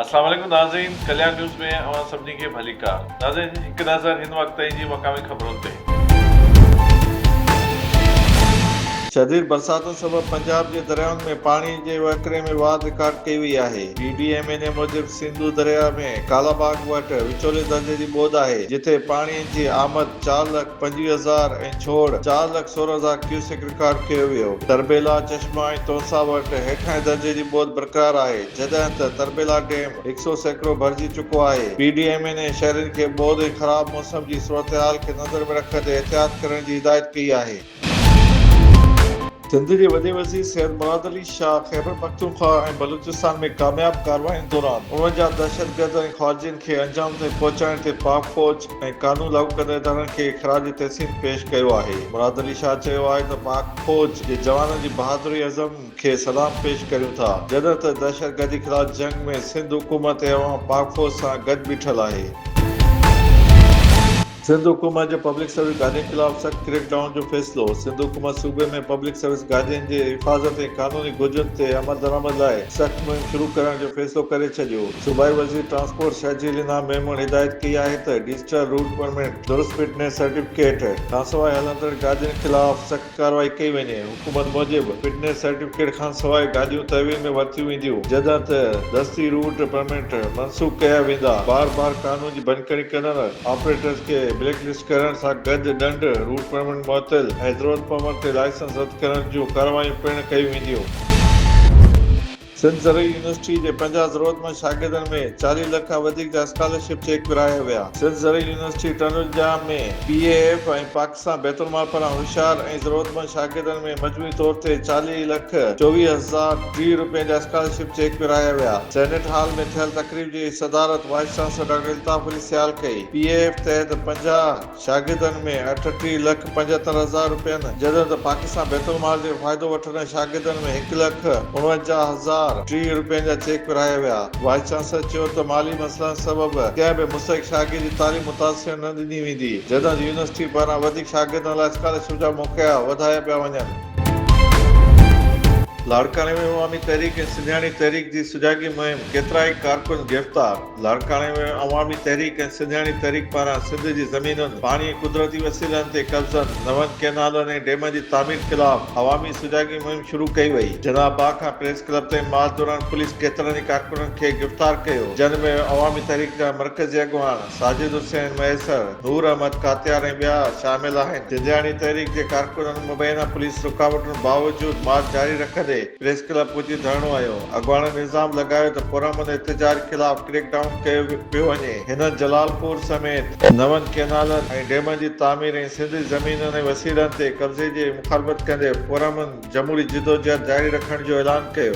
السلام عليڪم ناظرين ڪليان نيوز ۾ اوهان سڀني کي ڀليڪار ناظرين هڪ نظر هن وقت تائين جي مقامي خبرن تي. شديد برساتن سبب پنجاب جي دريائن ۾ پاڻي جي وهڪري ۾ واڌ رڪارڊ ڪئي وئي آهي P D M N A موجب سنڌو درياء ۾ ڪالاباغ وٽ وچولي درجي جي ٻوڏ آهي جتي پاڻي جي آمد چار لک پنجويهه هزار ۽ ڇوڙ چار لک سورهن هزار ڪيوسڪ ڪارڊ ڪيو ويو. تربيلا چشمه ۽ تونسا وٽ هيٺائين درجي جي ٻوڏ برقرار آهي، جڏهن ته تربيلا ڊيم هڪ سئو سيڪڙو ڀرجي چڪو آهي. P D M N A شهرين کي ٻوڏ ۽ خراب موسم جي صورتحال کي نظر ۾ رکندي احتياط ڪرڻ جي هدايت ڪئي آهي. سنڌ جي وڏي وزير سيد مراد علي شاهه خيبرپختونخوا ۽ بلوچستان ۾ ڪامياب ڪاررواين دوران اڻوجھه دهشتگرد ۽ خارجين کي انجام تائين پهچائڻ تي پاڪ فوج، ۽ قانون لاڳو ڪندڙ ادارن کي خراج تحسين پيش ڪيو آهي. مراد علي شاهه چيو آهي ته پاڪ فوج جي جوانن جي بهادري عزم کي سلام پيش ڪريون ٿا جڏهن ته دهشتگردي خلاف جنگ ۾ سنڌ حڪومت ۽ عوام پاڪ فوج سان گڏ بيٺل آهي. سنڌ حڪومت جو پبلڪ سروس گارڊين خلاف سخت ڪريڪ ڊائون جو فيصلو، سنڌ حڪومت صوبي ۾ پبلڪ سروس گارڊين جي حفاظت ۽ قانوني گهرجن تي عملدرآمد لاء سخت مهم شروع ڪرڻ جو فيصلو ڪري ڇڏيو، صوبائي وزير ٽرانسپورٽ شاهجي رينا ميمڻ هدايت ڪئي آهي ته ڊجيٽل روٽ پرمٽ، درست فٽنس سرٽيفڪيٽ کانسواء هلندڙ گاڏين خلاف سخت ڪارروائي ڪئي وڃي، حڪومت موجب فٽنس سرٽيفڪيٽ کانسواء گاڏيون تحويل ۾ ورتيون وينديون جڏهن ته دستي روٽ پرمٽ منسوخ ڪيا ويندا، بار بار قانون جي ڀڃڪڙي ڪرڻ، آپريٽرز کي بليڪ لسٽ ڪرڻ سان گڏ ڏنڊ، روٽ پرمٽ معطل ۽ ضرورت پوڻ تي لائسنس رد ڪرڻ جون ڪارروايون پڻ ڪيون وينديون. سنڌ زرعي يونيورسٽي جي پنجاهه ضرورتمند شاگردن ۾ چاليهه لک کان وڌيڪ جا اسڪالرشپ چيڪ ورهايا ويا. سنڌ زرعي university Tandojam ۾ P A F ۽ Pakistan Bait ul Mal پاران هوشيار ۽ ضرورتمند شاگردن ۾ مجموعي طور تي چاليهه لک چوويهه هزار ٽيهه روپين جا اسڪالرشپ چيڪ ورهايا ويا. سينيٽ هال ۾ ٿيل تقريب جي صدارت vice chancellor doctor Altaf Ali Sial ڪئي. پي اي ايف تحت پنجاهه شاگردن ۾ اٺ ٽي لک پنجهتر هزار روپين جڏهن ته پاڪستان بيت المال جي فائدو وٺندڙ شاگردن ۾ هڪ لک اڻونجاهه هزار ٽي روپين جا چيڪ ورهايا ويا. وائيس چانسلر چيو ته مالي مسئلن سبب ڪنهن به مستحق شاگرد جي تعليم متاثر نه ڏني ويندي جڏهن ته يونيورسٽي پاران وڌيڪ شاگردن لاء اسڪالرشپ جا موقعا وڌايا پيا وڃن. لاڙڪاڻي ۾ عوامي تحريڪ ۽ سنڌياڻي تحريڪ جي سجاڳي مهم، ڪيترائي ڪارڪن گرفتار. لاڙڪاڻي ۾ عوامي تحريڪ ۽ سنڌياڻي تحريڪ پاران سنڌ جي زمينن، پاڻي ۽ قدرتي وسيلن تي قبضن، نون ڪئنالن ۽ ڊيمن جي تعمير خلاف عوامي سجاڳي مهم شروع ڪئي وئي. جناح باغ کان پريس ڪلب تائين مارچ دوران پوليس ڪيترن ئي ڪارڪنن کي گرفتار ڪيو، جن ۾ عوامي تحريڪ جا مرڪزي اڳواڻ ساجد حسين مهيسر، نور احمد ڪاتيار ۽ ٻيا شامل آهن. سنڌياڻي تحريڪ جي ڪارڪنن مبينا پوليس رڪاوٽن باوجود مارچ جاري رکندي، پريس ڪلب پھچي ڌرڻو ھنيو، اڳواڻن الزام لڳايو ته پرامن احتجاج خلاف ڪريڪ ڊائون ڪيو پيو وڃي، ھنن جلال پور سميت نون ڪئنالن ۽ ڊيمن جي تعمير ۽ سنڌ جي زمينن ۽ وسيلن تي قبضي جي مخالفت ڪندي پرامن جمھوري جدوجھد جاري رکڻ جو اعلان ڪيو.